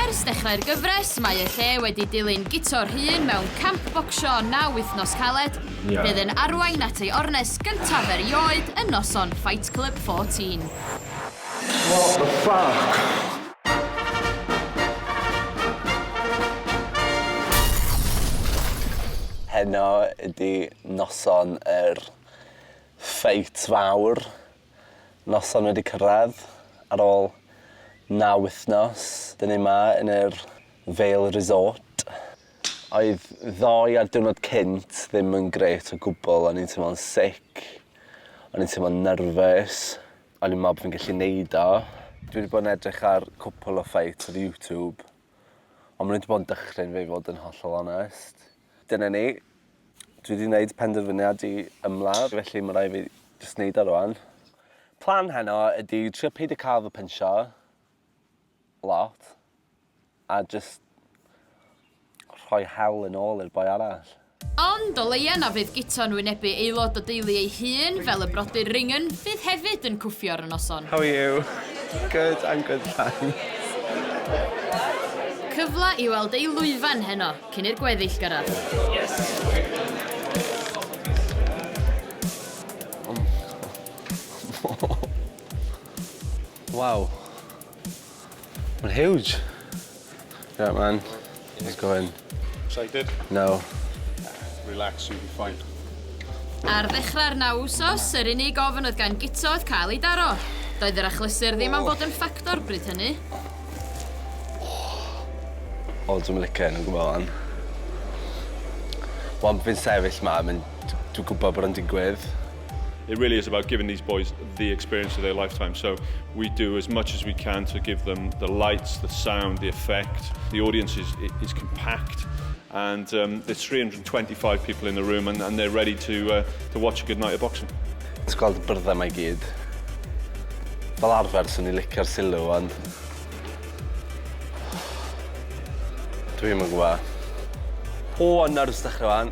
Ers dechrau'r gyfres, mae y lle wedi dilyn Guto'r hun mewn camp bocsio naw wythnos caled, bydd yn arwain at ei ornest gyntaf erioed yn noson Fight Club 14. What the fuck? Heno ydi noson yr Fight fawr. noson wedi cyrraedd ar ôl naw wythnos. Dyn ni yma yn yr Vale Resort. Oedd ddoe a'r diwrnod cynt ddim yn grêt o gwbl. O'n i'n teimlo'n sick. O'n i'n teimlo'n nervous. O'n i'n meddwl bod fi'n gallu neud o. Dwi wedi bod yn edrych ar cwpl o fights ar YouTube. Ond maen nhw wedi bod yn dychryn fi i fod yn hollol onest. Dyna ni. Dwi 'di neud penderfyniad i ymladd felly ma' rai' fi jyst neud e rŵan. Plan heno ydi trio peidio ca'l fy pynsio lot a jyst rhoi hel yn ôl i'r boi arall. Ond o leia na fydd Guto'n wynebu aelod o deulu ei hun fel y brodyr Ringen fydd hefyd yn cwffio ar y noson. How are you? Good I'm good thanks. Cyfla i weld ei lwyfan heno. Cyn i'r gweddill gyrraedd. Waw. Mae'n huge. Yeah, man. Let's go in. Excited? No. Relax, you'll be fine. Ar ddechrau'r naw wsos, yr unig ofn oedd gan Guto oedd cael ei daro. Doedd yr achlysur ddim am fod yn ffactor bryd hynny. O dwi'm yn licio 'yn o gwbwl wan. Wan bo' fi'n sefyll 'ma ma'n d- dwi gwbod bod o'n digwydd. It really is about giving these boys the experience of their lifetime so we do as much as we can to give them the lights, the sound, the effect, the audience is is compact. And um, there's 325 people in the room and, and they're ready to, uh, to watch a good night of boxing. Ti'n gweld y byrddau mae gyd. Fel arfer, swn i'n licio'r sylw, ond... Dwi'n mynd gwybod. O, nerves dechrau fan.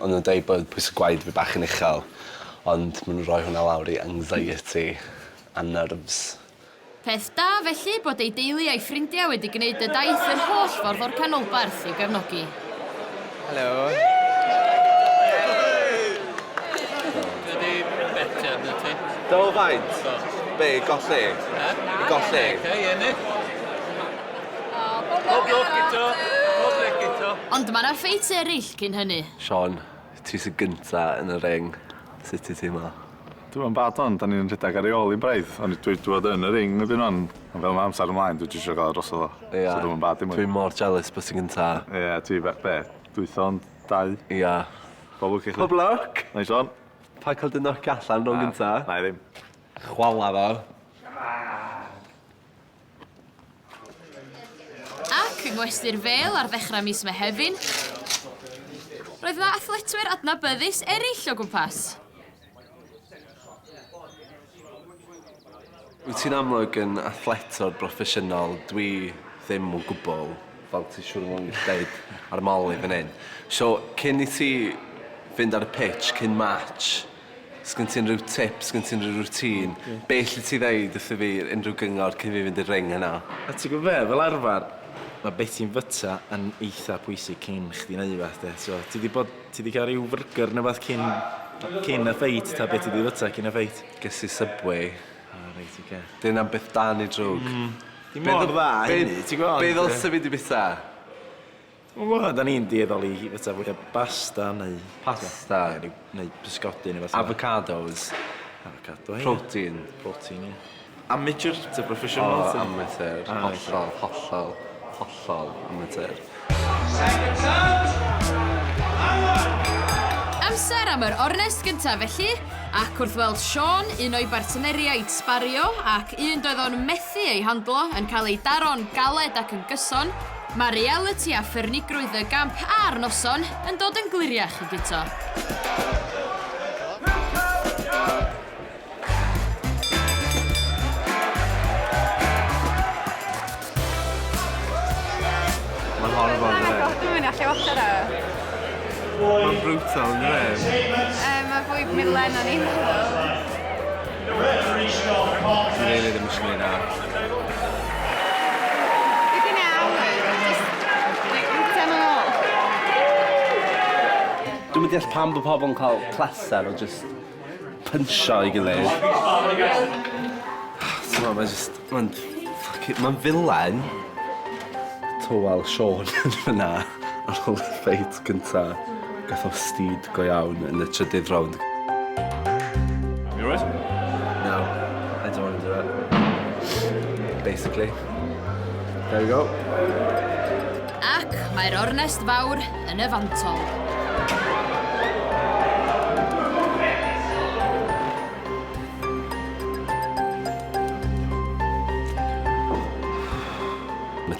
O'n nw'n deud bod pwyse gwaed fi bach yn uchel ond ma' n'w roi hwnna lawr i anxiety a nerves. Peth da felly bod ei deulu a'i ffrindia wedi gneud y daith yr holl ffordd o'r canolbarth i'w gefnogi. Helo. Dydi Beca yn y tit? Do faint? Do. Be' i golli? Yy? I golli? Beca i ennill. Pob lwc eto. Pob lwc eto. Ond ma' 'na ffeit eryll. cyn hynny. Siân, ti sy gynta yn y ring, sut ti teimlo? Dwi'm yn bad ond 'da ni'n rhedag ar ei ôl 'i braidd ond dwi 'di bod yn y ring erbyn ŵan ond fel ma' amser ymlaen dwi jyst isio ga'l o drosodd o. Ie. So dwi'm yn bad dim mwy. Dwi mor jealous bo' ti'n gynta. Ie ti be- be'? Dwytha ond dau? Ia. Bob lwc i chdi. Pob lwc! Neis one. Paid cael dy nocio allan rown gynta. Na, 'nai ddim. Chwala fo. Shwmai! Ac yng ngwesty'r Fêl ar ddechrau mis Mehefin, roedd yna athletwyr adnabyddus eraill o gwmpas. Wyt ti'n amlwg yn athletwr broffesiynol, dwi ddim o gwbl, fel ti siŵr o fod yn gallu deud ar ymol i fan hyn. So, cyn i ti fynd ar y pitch, cyn match, Sgyn ti unrhyw tip, sgyn ti unrhyw routine? Ie. Be' elli ti ddeud wrtho fi, unrhyw gyngor cyn fi fynd i'r ring yna? A ti'n gwbo be', fel arfar ma' be' ti'n fyta yn eitha pwysig cyn chdi neu' wbath 'de, so ti 'di bod, ti 'di ca'l ryw fyrgyr ne' wbath cyn cyn y ffeit ta be' ti 'di fyta cyn y ffeit? Ges i Subway. O reit oce. 'Di wnna'n beth da neu drwg? Hmm. Dim mor dda a hynny ti'n gwbo ond yy... Be' ddylse fi 'di byta? Wel, da ni'n dueddol i fwyta fwy o basta neu... Pasta. ...neu ryw... neu pysgodi neu rwbeth fel 'a. Avocados. Avocado, ie. Protein. Protein, ie. Amateur ta professional ta? O, amateur. O oce. Hollol, hollol, hollol amateur. Second touch! Come on! Amser am yr ornest gyntaf felly, ac wrth weld Siân, un o'i bartneriaid sbario, ac un doedd o'n methu ei handlo, yn cael ei daro'n galed ac yn gyson, Mae realiti a ffyrnigrwydd y gamp a'r noson yn dod yn gliriach i Guto. Dwi'm yn deall pam bod pobl yn cael pleser o jyst pynsio ei gilydd. T'mo' mae jyst ma'n ffycin ma'n villain. Tywel Siôn yn fynna. Ar ôl y ffeit gynta, gath o stid go iawn yn y trydydd rownd. You alright? No, I don't want to do it. Basically. There we go. Ac mae'r ornest fawr yn y fantol.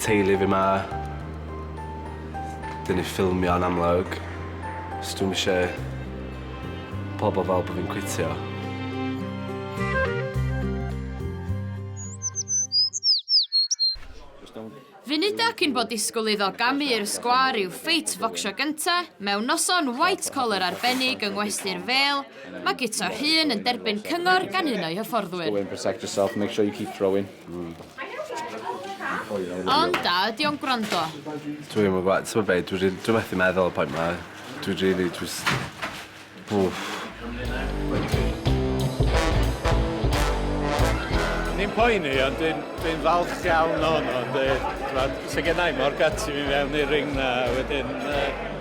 teulu fi 'ma. Dyn ni'n ffilmio yn amlwg. So dwi'm ishe pobol fel bo' fi'n cwitio. Funuda cyn bod disgwl iddo gamu i'r sgwâr i'w ffeit focsio gynta, mewn noson white collar arbennig yng ngwesty'r Fêl, mae Guto Rhun yn derbyn cyngor gan un o'i hyfforddwyr. Ond da, ydy o'n gwrando? Dwi ddim yn gwybod, ti'n gwybod be, dwi rili, dwi methu meddwl y pwynt ma. Dwi rili, dwi... Wff. Ni'n poeni, ond dwi'n dwi falch iawn o'n o'n dweud, ti'n gwybod, sy'n gennau mor gati fi mewn i'r ring na, wedyn, uh,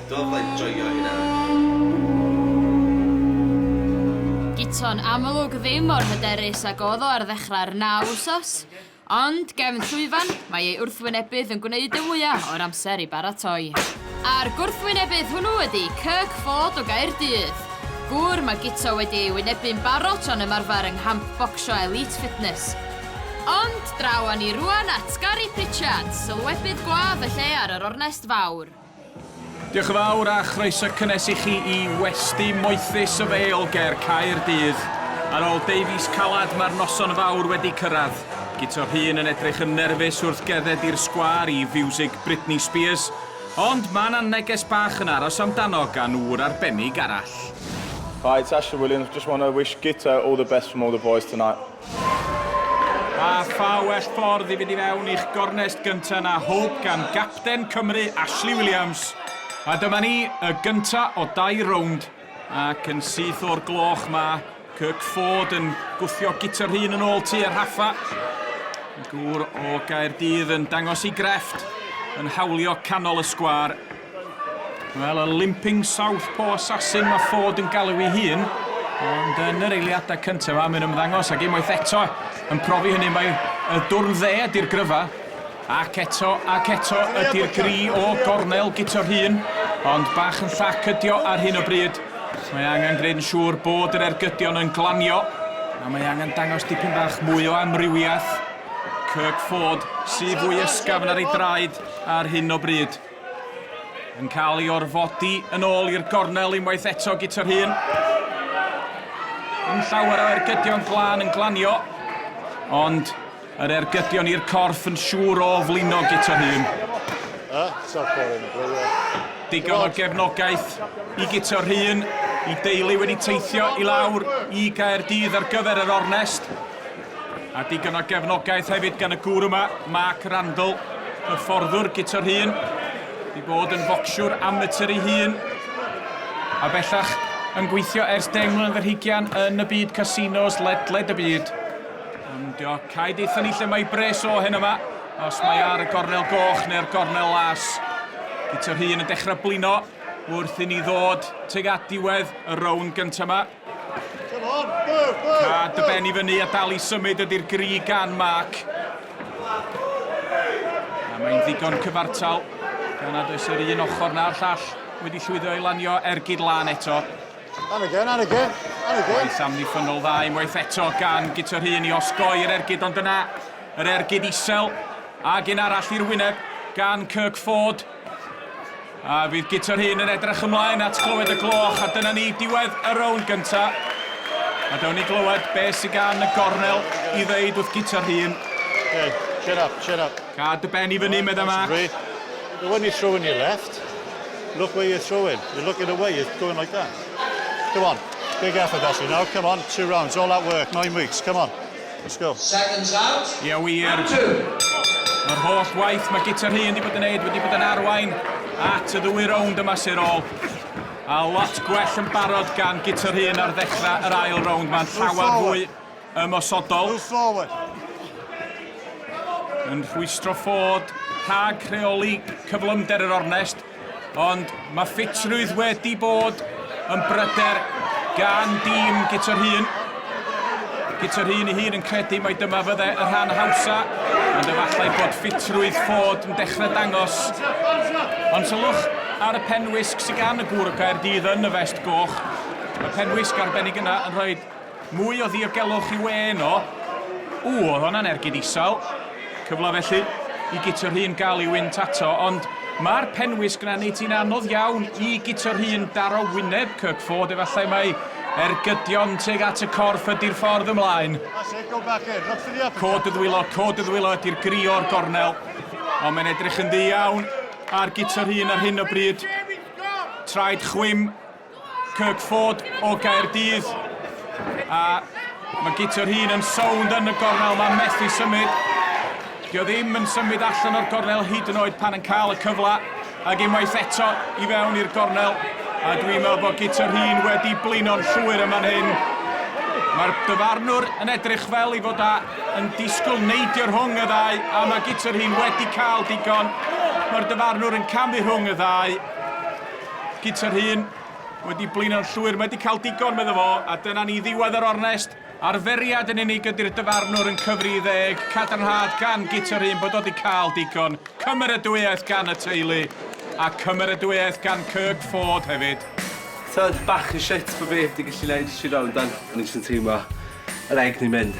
Do bydd joio hynna. Guto'n amlwg ddim mor hyderus ag oedd o ar ddechrau'r naw wsos, ond gefn llwyfan, mae ei wrthwynebydd yn gwneud y mwya' o'r amser i baratoi. A'r gwrthwynebydd hwnnw ydi Kirk Ford o Gaerdydd, gŵr mae Guto wedi ei wynebu'n barod tra'n ymarfer yng nghamp bocsio Elite Fitness. Ond draw â ni rŵan at Gary Pritchard, sylwebydd gwadd y lle ar yr ornest fawr. Diolch yn fawr a chroeso cynnes i chi i westy moethus y Vale ger Caerdydd. Ar ôl deufis calad mae'r noson fawr wedi cyrraedd. Guto Rhun yn edrych yn nerfus wrth gerdded i'r sgwâr i fiwsig Britney Spears. Ond mae 'na neges bach yn aros amdano gan ŵr arbennig arall. Hi, it's Ashley Williams, just want to wish Guto all the best from all the boys tonight. A pha well ffordd i fynd i fewn i'ch gornest gyntaf na hwb gan gapten Cymru, Ashley Williams. A dyma ni, y gyntaf o dair rownd, ac yn syth o'r gloch mae Kirk Ford yn gwthio Guto'r Rhun yn ôl tua'r rhaffa. Gŵr o Gaerdydd yn dangos ei grefft, yn hawlio canol y sgwâr. Wel, y limping south paw assassin mae Ford yn galw ei hun. Ond yn yr eiliadau cyntaf yma, mae'n ymddangos ac unwaith eto yn profi hynny mae y dwrn dde ydy'r gryfa. Ac eto ac eto ydy'r gri o gornel gito'r hun. Ond bach yn llac ydio ar hyn o bryd. Mae angen gwneud yn siŵr bod yr ergydion yn glanio. A mae angen dangos dipyn bach mwy o amrywiaeth. Kirk Ford sy'n fwy ysgafn ar ei draed ar hyn o bryd. Yn cael ei orfodi yn ôl i'r gornel unwaith eto gyda'r hun. Yn llawer o ergydion glân yn glanio, ond yr ergydion i'r corff yn siŵr o flino gyda'r hun. Digon o gefnogaeth i gyda'r hun, i deulu wedi teithio i lawr i Gaerdydd ar gyfer yr ornest. A digon o gefnogaeth hefyd gan y gŵr yma, Mark Randall, hyfforddwr gita'r hun, wedi bod yn focsiwr amatur ei hun, a bellach yn gweithio ers deng mlynedd yr hugian yn y byd casinos ledled y byd. Ymdio, cae deitha ni lle mae bres o hen yma, os mae ar y gornel goch neu'r gornel las. Gita'r hun yn dechrau blino wrth i ni ddod tuag at diwedd y rown gyntaf yma. A dy ben i fyny a dal i symud ydy'r gri gan Mark. A mae'n ddigon cyfartal. Gan nad oes yr un ochr na'r llall wedi llwyddo i lanio ergyd lan eto. And again, and again, and again. Waith amddiffynnol dda unwaith eto gan Guto'r Hun i osgoi'r ergyd ond yna yr ergyd isel ac un arall i'r wyneb gan Kirk Ford. A fydd Guto'r Hun yn edrych ymlaen at glywed y gloch, a dyna ni, diwedd y rownd gynta. A dewn ni glywed be sy'n gan y gornel i ddeud wrth Guto'r Hun. Okay, chin up, chin up. Cad dy ben i fyny, right, meddai Max. But when you throw in your left, look where you're throwing. You're looking away, you're going like that. Come on, big effort, Ashley, now, come on, two rounds, all that work, nine weeks, come on. Let's go. Seconds out. Ia wir. Mae'r holl waith mae Guto Rhun wedi bod yn neud wedi bod yn arwain at y ddwy rownd yma sy'r ôl. A lot gwell yn barod gan Guto Rhun ar ddechrau yr ail rownd. Mae'n llawer fwy ymosodol. Yn rhwystro ffod rhag rheoli cyflymder yr ornest. Ond mae ffitrwydd wedi bod yn bryder gan dîm Guto'r Hun. Guto'r Hun ei hun yn credu mai dyma fydde y rhan hawsa, ond efallai bod ffitrwydd ffod yn dechrau dangos. Ond sylwch ar y penwisg sy'n gan y gŵr o Gaerdydd yn y fest goch. Mae penwisg arbennig yna yn rhoi Mwy o ddiogelwch i wê yno. Ww, oedd honna'n ergyd isel. Cyfle felly i Guto Rhun gael ei wynt ato, ond mae'r penwys gyda Nate yn anodd iawn i Guto Rhun daro wyneb Kirk Ford, efallai mai ergydion tuag at y corff ydy'r ffordd ymlaen. Cod y ddwylo, cod y ddwylo ydy'r gri o'r gornel, ond mae'n edrych yn ddi iawn ar Guto Rhun ar hyn o bryd. Traed chwim Kirkford o Gaerdydd. A mae gitio'r hun yn sownd yn y gornel, mae'n methu symud. Dio ddim yn symud allan o'r gornel hyd yn oed pan yn cael y cyfle. Ac unwaith eto i fewn i'r gornel. A dwi'n meddwl bod gitio'r hun wedi blino'n llwyr yma fan hyn. Mae'r dyfarnwr yn edrych fel i fod a yn disgwyl neidio rhwng y ddau a mae gitio'r hun wedi cael digon. Mae'r dyfarnwr yn camu rhwng y ddau. Gyda'r hun wedi blino'n llwyr, mae wedi cael digon, medda fo, a dyna ni ddiwedd yr ornest. Arferiad yn unig ydy'r dyfarnwr yn cyfri i ddeg, cadarnhad gan Gyda'r hun bod o wedi cael digon. Cymeradwyaeth gan y teulu, a cymeradwyaeth gan Kirk Ford hefyd. Tibod, bach yn shit bod fi heb 'di gallu neud tri rownd dan, o'n i jyst yn teimlo yr egni'n mynd.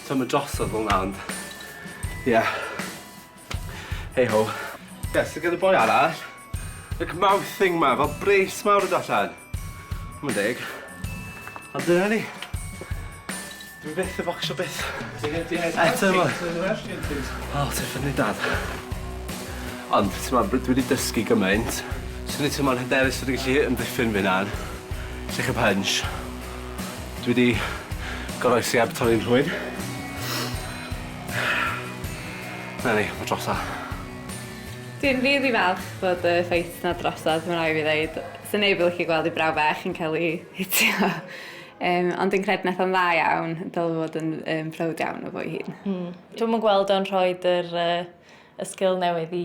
Tibod, mae drosodd fel 'na, ond ie. Hey ho. Yes, gyda boi arall. Like mouth thing ma, fel brace mawr yn allan. Mae'n deg. Ond dyna ni. Dwi'n beth y bocsio beth. Eto yma. O, ti'n ffynnu dad. Ond, ti'n ma, dwi wedi dysgu gymaint. Swn i'n teimlo'n hyderus fod yn gallu ymddiffyn fi na'n lle chi punch. Dwi wedi goroesi ab torri'n rhwyd. Na ni, ma drosa. Dwi'n rili falch bod y ffaith na drosod, mae'n rhaid fi ddeud. Sa neb yn licio gweld ei brawf fach yn cael ei hitio. Um, ond dwi'n credu nath o'n dda iawn, dylai fod yn um, proud iawn o fo'i hun. Mm. Dwi'n yn gweld o'n rhoi yr, uh, y sgil newydd i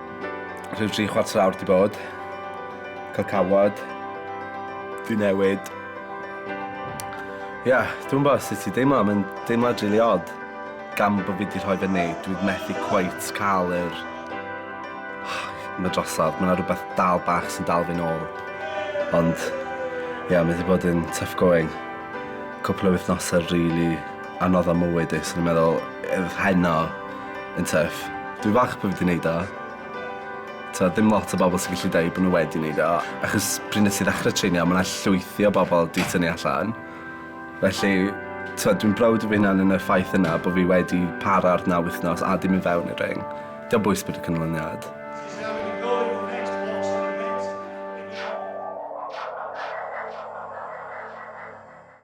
Rhyw tri chwarter awr di bod. Cael cawod. Di newid. Ia, yeah, dwi'n bod sut i deimlo, mae'n deimlo rili really odd. Gan bod fi di rhoi fe fyny, dwi'n methu cweit cael yr... Mae drosodd, mae yna rhywbeth dal bach sy'n dal fi'n ôl. Ond, ia, yeah, mae wedi bod yn tough going. Cwpl o wythnosau rili really anodd am mywyd i, so o'n i'n meddwl yr rhain 'na yn tuff. Dwi falch bo' fi 'di neud o. T'od ddim lot o bobol sy'n gallu deud bo' n'w wedi neud o achos pryd nes i ddechre treinio ma' 'na llwythi o bobol 'di tynnu allan felly t'od dwi'n browd o fy hunan yn y ffaith yna bo' fi wedi para ar naw wythnos a dim i fewn i'r ring. Dio'm bwys bod y canlyniad.